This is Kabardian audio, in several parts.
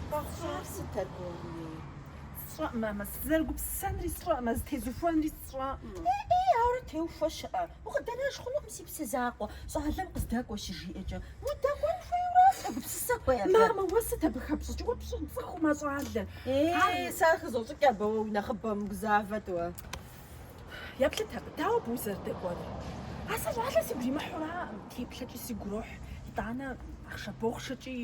Къэхъуар сыт аргуэрми? Сщӏэӏым, мамэ, сызэрыгупсысэнри сщӏэӏымэ, зытезыхуэнри сщӏэӏымэ. Ӏей, ауэрэ теухуэ щыӏэ. Укъыдэнэж хъунукъым, си псэ закъуэ. Щӏалэм къыздэкӏуэ щыжиӏэкӏэ, удэкӏуэн хуейуэра? Сыгупсысэн хуей абы. Мамэ, уэ сыт абы хэпщӏыкӏыр? Уэ пцӏыхуӏым а щӏалэр. Ей, сэ хызощӏыкӏ абы, уэ уи нэхъыбэ, умыгузавэт уэ. Еплъыт абы, дауэ абы узэрыдэкӏуэнур? А сэ щӏалэр сигу иримыхьураӏым, теплъэкӏи сигу ирохь, итӏанэ ахъшэ-бохъшэкӏи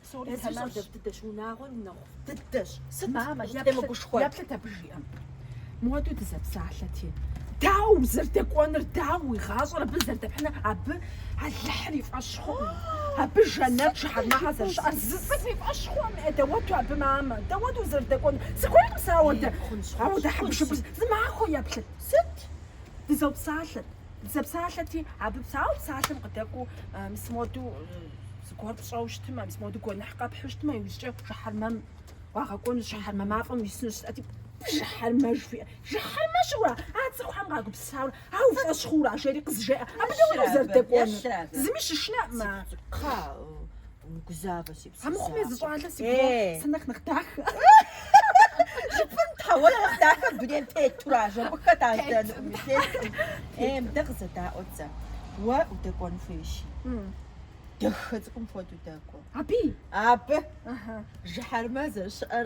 псори Езыр тэмэмщ. щӏалэ дыдэщ, унагъуэр нэхъ дыдэщ. Сыт Мамэ, еплъыт, къызытемыгушхуэр? еплъыт абы жиӏэм. Мыуэду дызэпсалъэти, дауэ узэрыдэкӏуэнур, дауэ уи гъащӏэр абы зэрыдэпхьынур, абы Алыхьыр и фӏэщ. Абы жэнэт жыхьэрмэхэ зэрыщыӏэр зы цӏыху и фӏэщ хъуӏым, е дауэду абы мамэ, дауэду узэрыдэкӏуэнур. Сыхуейкъым сэ ауэдэ, ауэдэ хьэбыршыбыр. Зы махуэ еплъыт. Сыт? Дызэпсалъэт. Дызэпсалъэти, абы псауэ псалъэм къыдэкӏуэу мис моду зыгуэр пщӏэу щытмэ, мис моду гуэныхь къэпхьу щытмэ, иужькӏэ жыхьэрмэм уагъэкӏуэнущ, жыхьэрмэ мафӏэм уисынущ. Жысӏэти, жыхьэрмэ жыхуиӏэ. Жыхьэрмэ щыӏэура? А цӏыхухэм къагупсысауэ А уи фӏэщ хъуура? жери къызжеӏэ. Абы дауэ узэрыдэкӏуэнур? Зыми щышынэӏымэ. Кхъа, умыгузавэ си псэ. А мыхъум езы щӏалэ си гугъэ, сэ нэхъ нэхъ дахэ жыпӏэм, тхьэ, уэ нэхъ дахэ дунейм тетура? Жыӏэ, хэт ар? Дунейм теткъым. Е, мыдэ къызэдаӏуэт сэ. Уэ удэкӏуэн хуейщи, дахэ цӏыкӏум хуэдэу дэкӏуэ. Аби? Абы. Жыхьэрмэ зэрыщыӏэр.